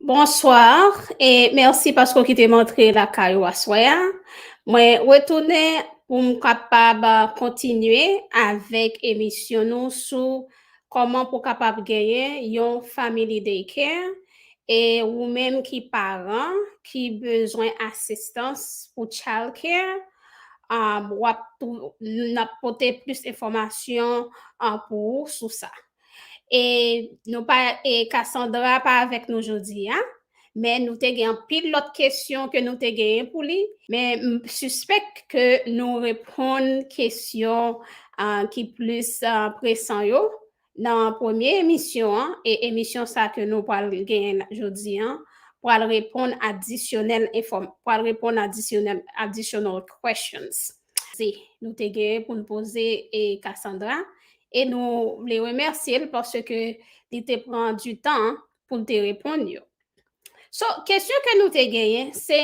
Bonsoir e merci paske ou kitem antre lakay ou aswè a. Mwen retounen pou m kapab kontinye avèk emisyon nou sou kòman pou kapab genyen yon family day care e ou menm ki paran ki bezwen asistans pou child care um wap nap pote plis enfòmasyon pou ou sou sa. E nou pa e Cassandra pa avèk nou jodi a, men nou te gen anpil lòt kesyon ke nou te genyen pou li, men m sispèk ke nou reponn kesyon ki plis presan yo nan premye emisyon an, e emisyon sa ke nou pral genyen jodi an pral reponn adisyonèl enfòm pral reponn adisyonèl additional questions. Se nou te gen pou nou poze e Cassandra e nou vle remèsye l paske li te pran du tan pou l te reponn yo. So, kesyon ke nou te genyen se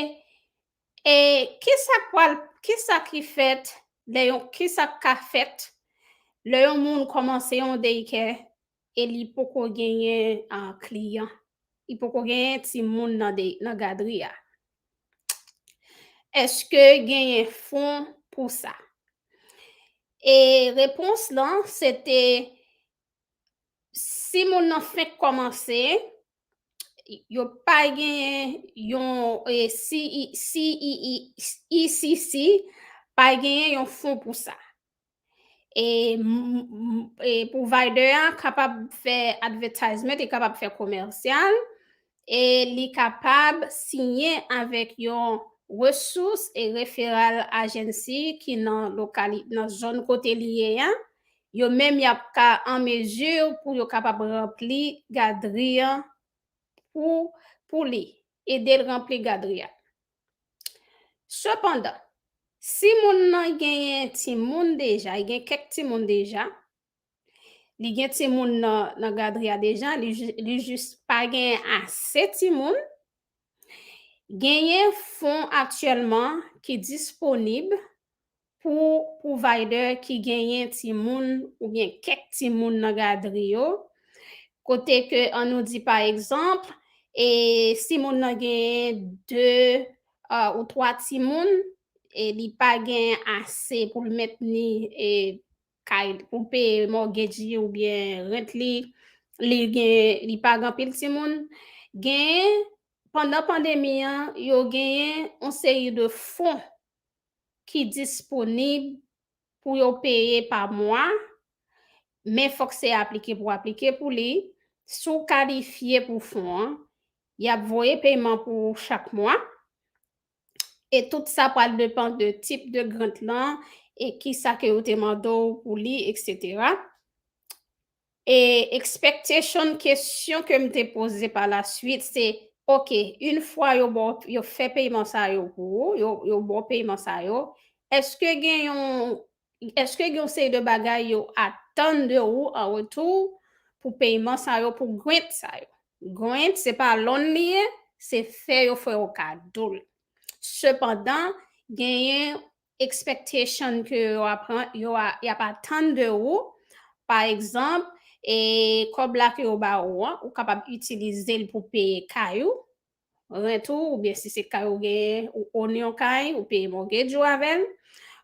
e kisa k pral, kisa ki fèt lè yon, kisa k ka fèt lè yon moun kòmanse yon daycare E li poko genyen kliyan. Li poko genyen timoun nan gadri a. Eske genyen fon pou sa? E repons lan se te si moun nan fenk kòmanse, yo pa genyen yon CECC pa genyen yon fon pou sa. E provider an kapab fè advertisement, li kapab fè commercial, e li kapab siyen avèk yon resous e referral agency ki nan lokali, nan zòn kote li ye an, yo menm y ap ka an mesure pou yo kapab ranpli gadri an pou, pou li, ede l ranpli gadri a. Sepandan, si moun nan genyen timoun deja, li gen kèk timoun deja, li gen timoun nan gadri a deja, li jis pa genyen ase timoun, genyen fon aktyèlman ki disponib Pou provider ki genyen timoun oubyen kèk timoun nan gadri yo, kote ke an nou di pa egzanp, e si moun nan genyen 2 ou 3 timoun, e li pa gen ase pou l mentni e kay pou peye mortgage li oubyen rent li, li gen li pa gen anpil timoun, genyen pandan pandemi an yo genyen yon seri de fon ki disponib pou yo peye pa mwa, men fòk se aplike pou aplike pou li, si w kalifye pou fon an, y ap voye peyman pou ou chak mwa, e tout sa pral depan de tip de grant lan e kisa ke yo te mande w pou li, eksetera. E expectation kesyon ke m te poze pa la suite se ok une fwa yo ba w yo fè peyman sa yo pou ou yo yo ba w peyman sa yo eske gen yon eske gen yon seri de bagay yo atann de ou an retou pou peyman sa yo pou grant sa yo grant se pa loan li ye se fè yo fè w kado l sepandan genyen expectation ke yo ap yo a yap atann de ou pa egzanp e kòb la ke yo ba ou an ou kapab itilize l pou peye kay ou rent ou oubyen si se kay ou genyen ou own yon kay ou peye mortgage ou avè l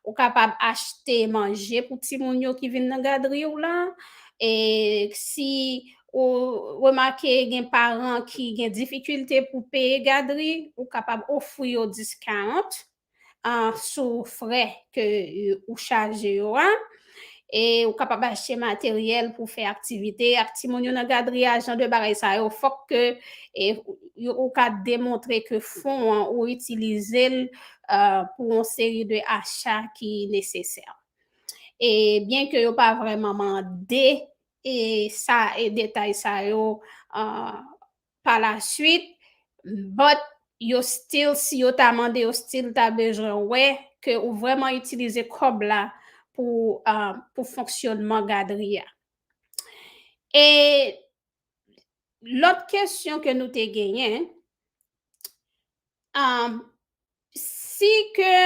ou kapab achte manje pou timoun yo ki vin nan gadri w lan e si ou remake gen paran ki gen difikilte pou peye gadri ou kapab ofri yo discount sou frè ke ou chaje yo a, e ou kapab achte materyèl pou fè aktivite ak timoun yo nan gadri a, jan de bagay sa yo fòk ke ou ka demontre ke fon an ou itilize l pou yon seri de acha ki nesesè. E byen ke yo pa vrèman mande sa e detay sa yo Pa la swit, but, yo stil, si yo ta mande yo stil ta bezwen wè ke ou vrèman itilize kòb la pou pou fonksyonman gadri a. E lòt kesyon ke nou te genyen, si ke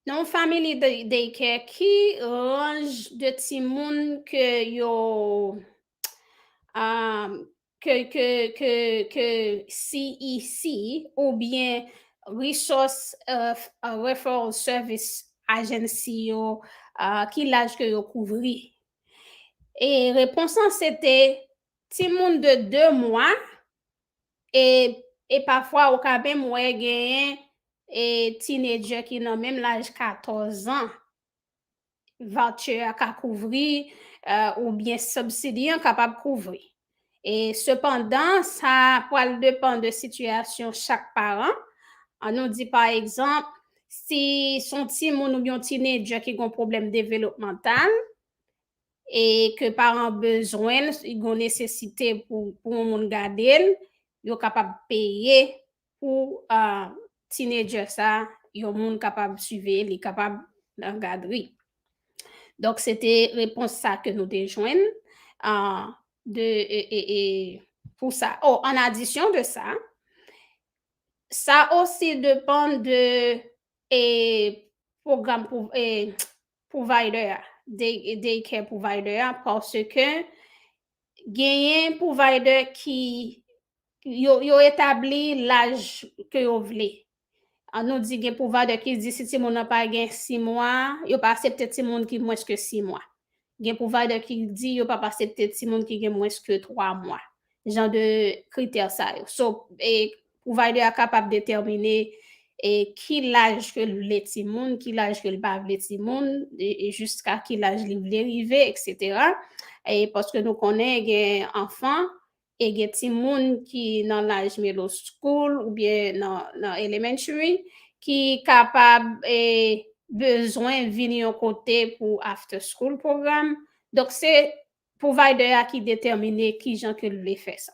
Nan yon family day care ki ranj de timoun ke yo ke CEC ou byen resource referral service agency yo ki laj ke yo kouvri? E repons lan se te timoun de 2 mwa E e pafwa ou ka menm wè genyen e teenager ki nan menm laj 14 ans voucher a ka kouvri ou byen subsidy an kapab kouvri. E sepandan sa pwal depan de sitiyasyon chak paran. An nou di pa egzanp si son timoun ou byen yon teenager ki gon pwoblèm developmantal e ke paran bezwen l, si gon nesesite pou yon moun gade l, yo kapab peye pou teenager sa, yon moun kapab siveye l, li kapab nan gadri. Donk se te repons sa ke nou te jwenn de pou sa. O, an adisyon de sa, sa osi depann de pwogram pou, provider a, day care provider a paske genyen provider ki yo etabli laj ke yo vle. An nou di gen provider ki di si timoun nan pa gen 6 mwa, yo pa asepte timoun ki mwens ke 6 mwa. Gen provider ki di yo pap asepte timoun ki gen mwens ke 3 mwa. Jan de kritè sa yo. So, Provider a kapab detèmine e ki laj ke l vle timoun, ki laj ke l pa vle timoun, e jiska ki laj li vle rive, eksetera. E paske nou konnen gen anfan e gen timoun ki nan laj middle school oubyen nan elementary ki kapab e bezwen vin yon kote pou after school program. Donk se provider a ki detèmine kijan ke l vle fè sa.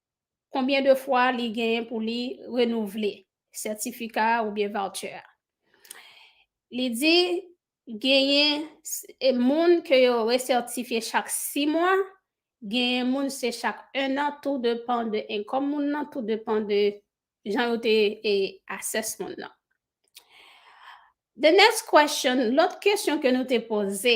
Konbyen de fwa li genyen pou li renouvle sètifika a oubyen voucher a. Li di genyen moun ke yo resètifye chak 6 mwa, genyen moun se chak 1 an tou depan de income moun nan, tou depan de jan yo te assess moun nan. The next question, lòt kesyon ke nou te poze,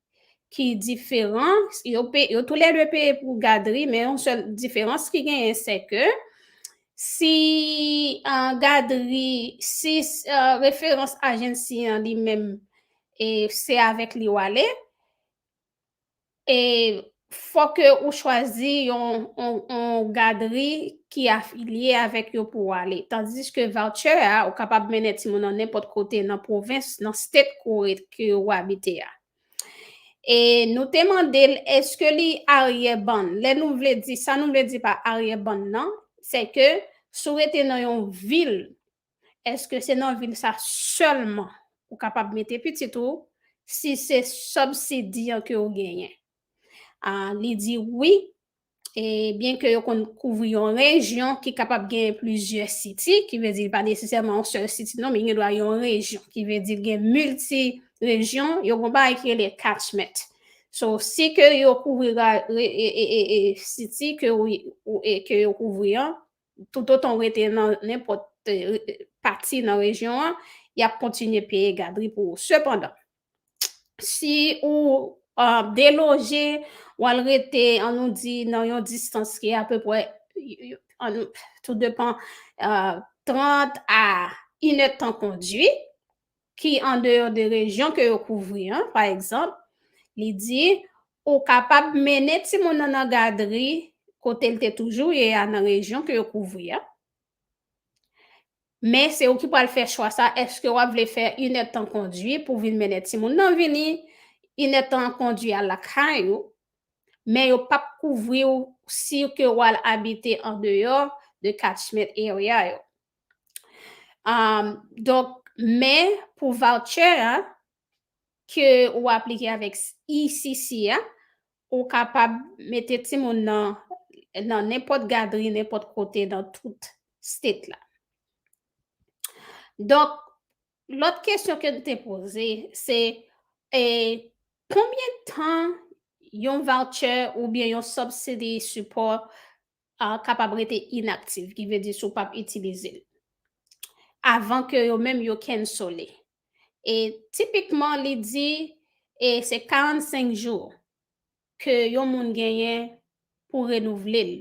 ki diferan, yo pe, yo tou lè dwe peye pou gadri, men yon sèl diferans ki genyen se ke si an euh, gadri, si euh, referans ajensi an li menm e se avèk li wale, e Fò ke ou chwazi yon yon gadri ki afilye avèk yo pou ou ale. Tandis ke voucher a, ou kapab mennen timoun nan nenpòt kote nan pwovens, nan state ke ou ret, ke ou abite a. E nou te mande l eske li aryèbann. Lè nou vle di, sa nou vle di pa aryèbann nan, se ke si ou rete nan yon vil Eske se nan vil sa selman ou kapab mete pitit ou si se subsidi an ke ou genyen? Li di wi, e byen ke yo konn kouvri yon rejyon ki kapab genyen plizyè city, ki vle di li pa nesesèman yon sèl city non, men gen dwa yon rejyon, ki vle di gen multi rejyon, yo gen yon bagay ki rele catchment. So, si ke yo kouvri city ke yo kouvri an, toutotan ou rete nan nenpòt pati nan rejyon an, y ap kontinye peye gadri pou ou. Sepandan, si ou deloje, ou al rete, an nou di, nan yon distans ki apepwè, tout depan, 30 a inèdtan kondwi, ki andeyò de rejyon ke yo kouvri an, pa egzanp, li di, ou kapab mennen timoun nan nan gadri kote l te toujou ye a nan rejyon ke yo kouvri a, men se ou ki pral fè chwa sa, èske w ap vle fè inèdtan kondwi pou vin mennen timoun nan vini, inèdtan kondwi al lakay ou, men yo p ap kouvri w si ke w al abite andeyò de catchment area yo. Um, donk, men pou voucher a ke ou aplike avèk ECC a, ou kapab mete timoun nan nan nenpòt gadri, nenpòt kote nan tout state la. Donk, lòt kesyon ke nou te poze, se e konbyen tan yon voucher oubyen yon subsidy support a kapab rete inactive ki vle di si w pap itilize l avan ke yo menm yo cancel li e tipikman li di e se 45 jours ke yon moun genyen pou renouvle l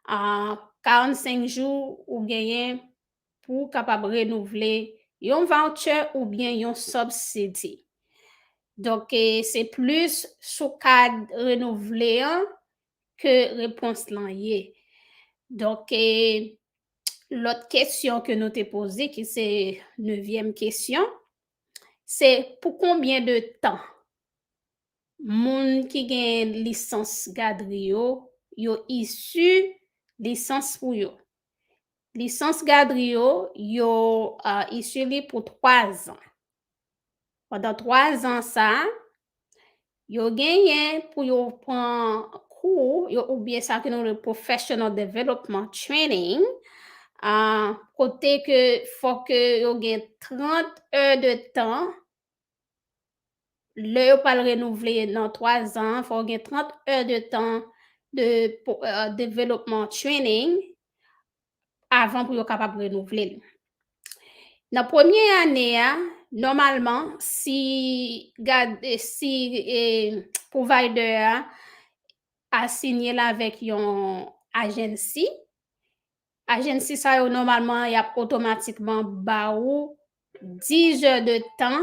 a 45 jou ou genyen pou w kapab renouvle yon voucher oubyen yon subsidy donk se plis sou kad renouvle an ke repons lan ye. Donk, lòt kesyon ke nou te poze ki se nevyèm kesyon, se pou konbyen de tan moun ki gen lisans gadri yo, yo isu lisans pou yo. Lisans gadri yo, yo isu li pou 3 zan. Pandan 3 zan sa, yo genyen pou yo pran kou yo oubyen sa ke nou le professional development training, uh, kote ke fòk yo gen 30 è de tan, lè yo pral renouvle nan 3 zan, fòk gen 30 è de tan de uh, development training, avan pou yo kapab renouvle l. Nan premye ane a, nòmalman, si gade si e, provider a asinye l avèk yon agency, agency sa yo nòmalman y ap otomatikman ba ou 10 heures de tan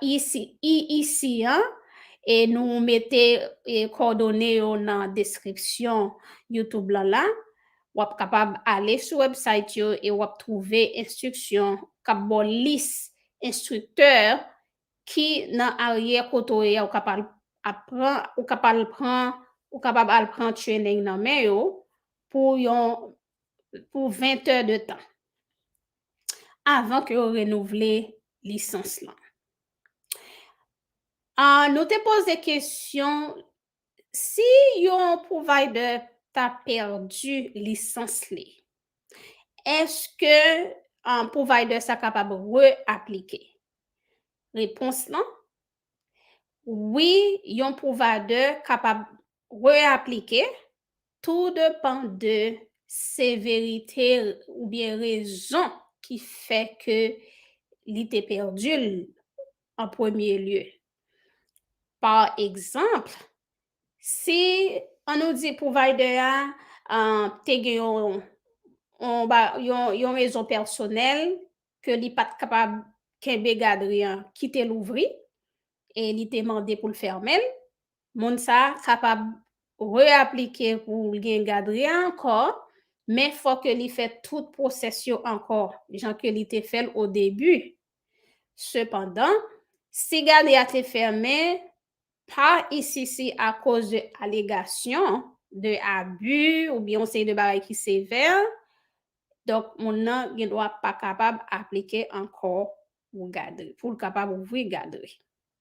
IEC an e nou mete kòdone yo nan deskripsyon youtube lan la. Wap kapab ale sou website yo e wap twouve enstriksyon kap ba w lis enstriktè ki nan aryè kote w ye a ou kap al ap pran ou kap al pran ou kapab al pran training nan men yo pou yon pou 20 tè de tan avan ke yo renouvle lisans lan. Ah, nou te poze kesyon, si yon provider ta pèdi lisans li, eske ah, provider sa kapab re-aplike? Repons lan, wi, yon provider kapab re-aplike, Tou depan de severite oubyen rezon ki fè ke li te pèdi l an premye lye. Pa egzanp, si an nou di pwovaydè a te gen yon rezon pèsonèl ke li pa t kapab kenbe gadri an, kite l ouvri e li te mande pou l fèmen l, Moun sa kapab re-aplike pou l gen gadri a ankò, men fò ke li fè tout pwosès yo ankò, jan ke li te fè l o debi. Sepandan, si gadri a te fèmen pa ICC akoz de alegasyon de abi oubyen yon seri de bagay ki sevè, donk moun nan gen dwa pa kapab aplike ankò pou gadri, pou l kapab ouvri gadri.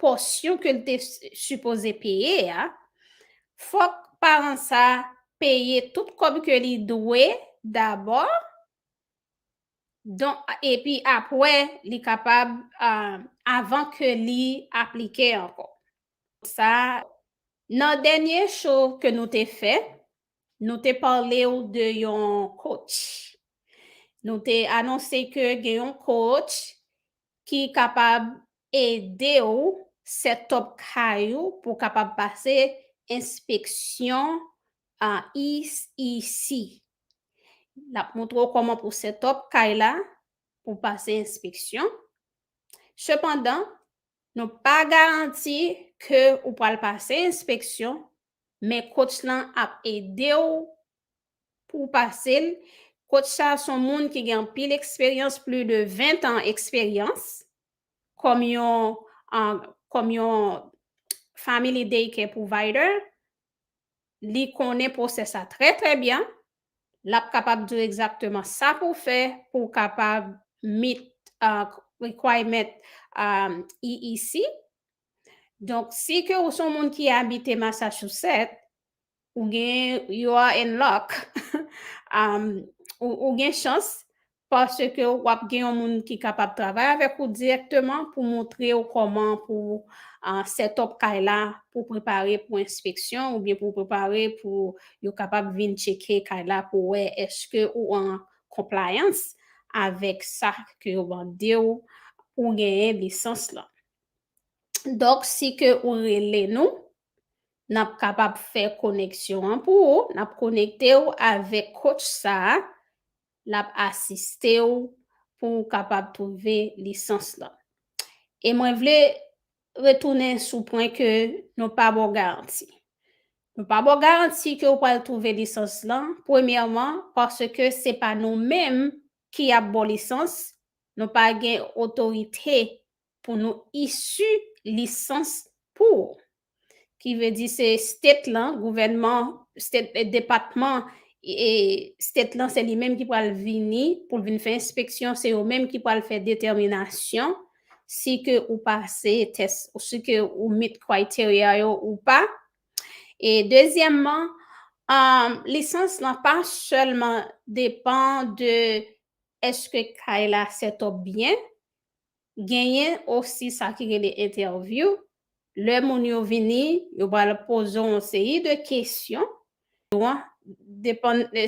pòsyon ke l te sipoze peye a, fòk paran sa a peye tout kòb ke li dwe dabò, don, epi apwè li kapab, avan ke li aplike ankò. Sa, nan dènye show ke nou te fè, Nou te pale ou de yon coach. Nou te anonse ke gen yon coach ki kapab ede ou set up kay ou pou w kapab pase enspeksyon ICC. L ap montre ou kòman pou w set up kay la pou w pase enspeksyon. Sepandan, nou pa garanti ke ou pral pase enspeksyon Men coach lan ap edew Pou w pase l, coach sa son moun ki gen anpil eksperyans pli de 20 tan eksperyans kòm yon kòm yon family day care provider li konnen pwosè sa trè trè byen lap kapab diw egzakteman sa pou w fè pou w kapab meet requirement EEC Donk, si ke ou son moun ki abite Masachouset, ou gen, you are in luck, um, ou, ou gen chans, paske ou ap gen yon moun ki kapab travay avèk ou direkteman pou montre ou kòman pou uh, set up kay la pou prepare pou enspeksyon oubyen pou prepare pou yo kapab vin tcheke kay la pou wè eske ou an compliance avèk sa ke yo mande ou pou genyen lisans lan. Donk si ke ou rele nou, n ap kapab fè koneksyon an pou ou, n ap konekte ou avèk coach sa a, l ap asiste ou pou ou kapab twouve lisans lan. E mwen vle retounen sou pwen ke nou pa ba w garanti. Nou pa ba w garanti ke ou pral twouve lisans lan, premyèman, paske se pa nou menm ki ap ba w lisans, nou pa gen otorite pou nou issu lisans pou ou. Ki vle di se state lan, gouvènman, state, depatman e state lan se li menm ki pral vini pou l vin fè enspeksyon, se yo menm ki pral fè detèminasyon si ke ou pase tès, ou si ke ou meet criteria yo ou pa. E dezyèmman, um, lisans lan pa sèlman depan de eske kay la set up byen, Genyen osi sa ki rele entèvyou, lè moun yo vini, yo pral poze w yon seri de kesyon,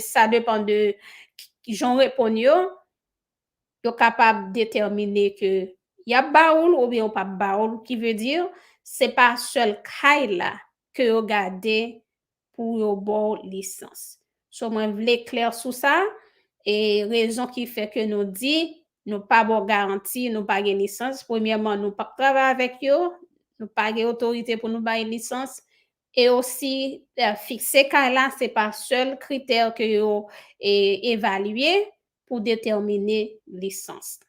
sa depan de jan w reponn yo, yo kapab detèmine ke y ap ba ou l oubyen yo p ap ba ou l, ki vle di se pa sèl kay la ke yo gade pou yo baw lisans. So mwen vle klè sou sa e rezon ki fè ke nou di nou pa baw garanti nou pa gen lisans premyèman nou pap travay avèk yo nou pa gen otorite pou nou bay lisans e osi fikse kay la se pa sèl kritè ke yo evalye pou detèmine lisans.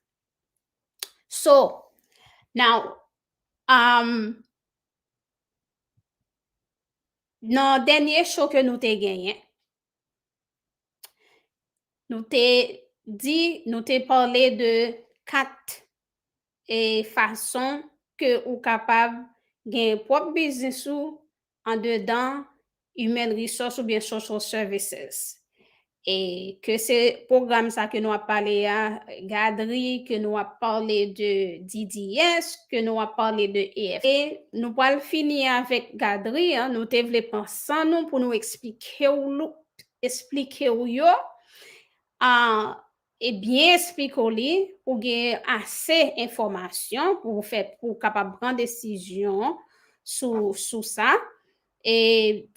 So now umm. Nan dènye show ke nou te genyen, nou te di, nou te pale de 4 e fason ke ou kapab gen pwòp biznis ou andedan Human Resource oubyen Social Services. E ke se pwogram sa ke nou ap pale a, gadri, ke nou ap pale de DDS, ke nou ap pale de EFT. E nou pwal fini avèk gadri an, nou te vle pran san nou pou nou esplike w, esplike w yo. e byen esplike w li pou w gen ase enfòmasyon pou w fè pou w kapab pran desizyon sou sou sa e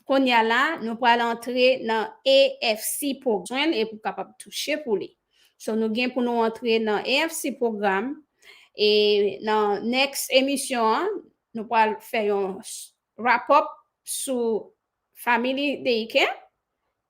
kounye a la nou pral antre nan EFC pou jwenn l e pou w kapab touche pou li so nou gen pou nou antre nan EFC pwogram e nan next emisyon an nou pral fè yon wrap up sou Family Daycare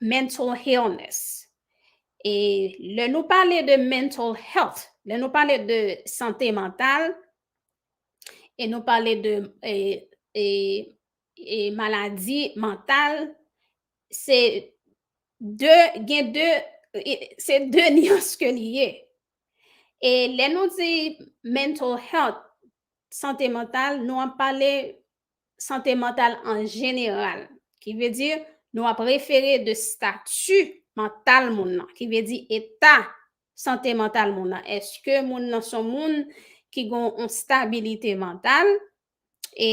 mental illness. E lè nou pale de mental health, lè nou pale de sante mantal, e nou pale de e, e, e maladi mantal, se de, gen de, se de nyans ke li ye. E lè nou di mental health, sante mantal, nou ap pale sante mantal an jeneral. Ki vle di, nou ap refere de stati mantal moun nan. Ki vle di, eta sante mantal moun nan. Eske moun nan son moun ki gon yon stabilite mantal? E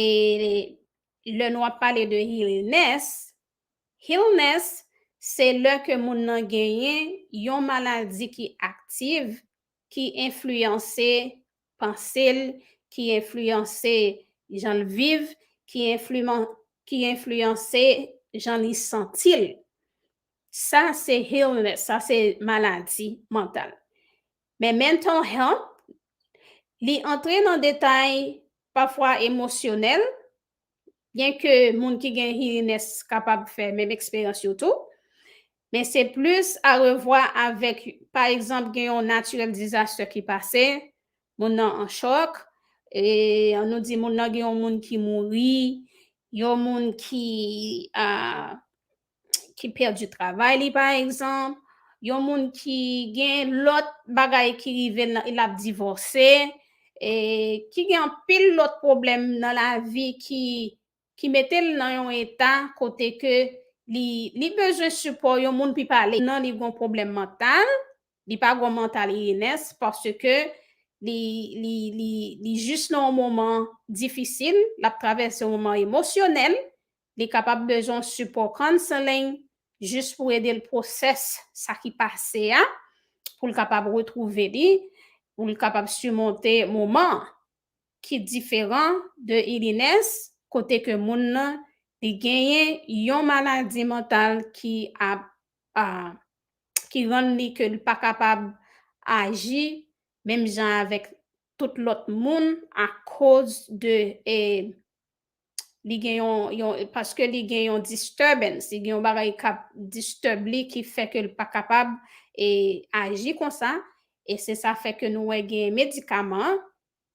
lè nou ap pale de illness, illness se lè ke moun nan genyen yon maladi ki aktiv ki enfliyanse panse l, ki enfliyanse jan l viv, ki ki enfliyanse jan li santi l. Sa se illness, sa se maladi mantal. Men mental health, li antre nan detay pafwa emosyonèl, Byenke moun ki gen heariness kapab fè menm eksperyans yo tou, men se plis arevwa avèk pa egzanp gen yon naturel disaster ki pase, moun nan an chòk, an nou di moun nan gen yon moun ki mouri, yon moun ki ki pèdi travay li pa egzanp, yon moun ki gen lòt bagay ki rive l l ap divòse, e ki gen anpil lòt pwoblèm nan lavi ki ki mete l nan yon eta kote ke li li bezwen sipò yon moun pi pale nan li gon pwoblèm mantal, li pa gon mantal illness paske li li li li jis nan yon moman difisil, l ap travèse yon moman emosyonèl Li kapab bezwen yon sipò counseling jis pou ede l process sa ki pase a pou l kapab retrouve li, pou l kapab surmonte moman an ki diferan de illness kote ke moun nan li genyen yon maladi mantal ki ap ki rann li ke li pa kapab aji menm jan avèk tout lòt moun akoz de li gen yon, yon, paske li gen yon disturbance, li gen yon bagay kap disturb li ki fè ke l pa kapab e aji konsa, e se sa fè ke nou wè gen medikaman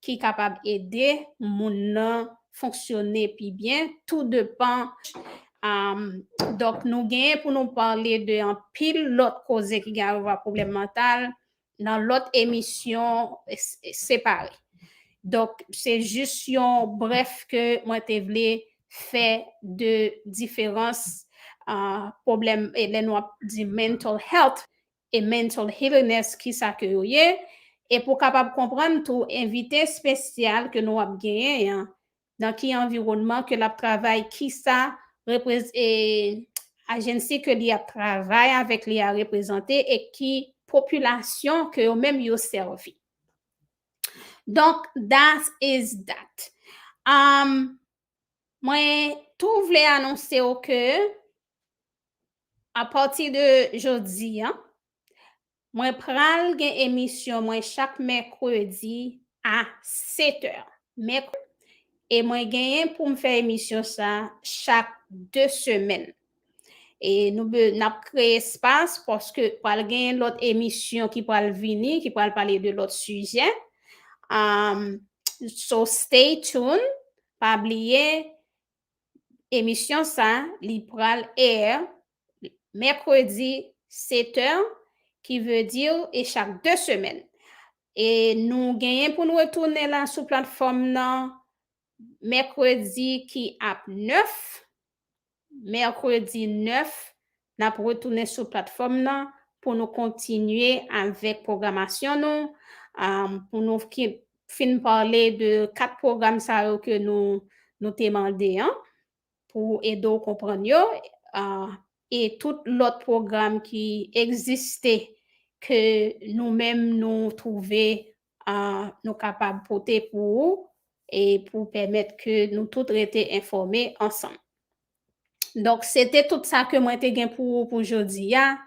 ki kapab ede moun nan fonksyone pi byen, tou depan, am, donk nou genyen pou nou pale de anpil lòt koze ki gen avwa pwoblèm mantal, nan lòt emisyon separe. Donk, se jis yon brèf ke mwen te vle fè de diferans pwoblèm e lè nou ap di mental health e mental healiness ki sa ke yo ye e pou kapab konprann tou envite espesyal ke nou ap genyen an nan ki anviwònman ke l ap travay, kisa agency ke li ap travay avèk li a reprezante e ki popilasyon ke yo menm yo sèvi. Donk, that is that. Mwen tou vle anonse ou ke apati de jodi an, Mwen pral gen emisyon mwen chak mèkredi a 7 è. Mèkredi. E mwen genyen pou m fè emisyon sa chak 2 semèn. E nou be n ap kreye espas paske pral genyen lòt emisyon ki pral vini, ki pral pale de lòt sijè. Um, so stay tuned. Pa bliye emisyon sa li pral air Mèkredi Sete, ki vle di e chak 2 semèn. E nou genyen pou n retounen la sou platfòm nan Mèkredi ki ap 9, Mèkredi 9, n ap retounen sou platfòm nan pou nou kontinye avèk pwogramasyon nou, pou nou fin pale de 4 pwogram sa yo ke nou te mande an. pou ede w konprann yo e tout lòt pwogram ki egziste ke nou menm nou twouve nou kapab pote pou ou e pou pèmèt ke nou tout rete enfòme ansanm. Donk se te tout sa ke mwen te gen pou ou pou jodi a.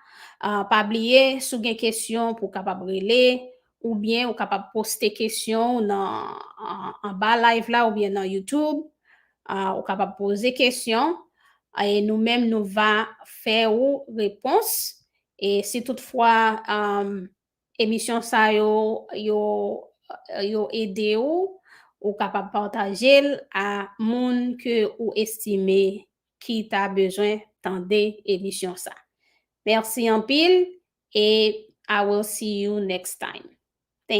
Pa bliye si w gen kesyon pou w kapab rele Oubyen ou kapab poste kesyon ou nan anba live la oubyen nan YouTube. Ou kapab poze kesyon e nou menm nou va fè ou repons. E si tout fwa emisyon sa yo yo ede ou, ou kapab pataje l a moun ke ou estime ki ta bezwen tande emisyon sa merci anpil et I will see you next time thank.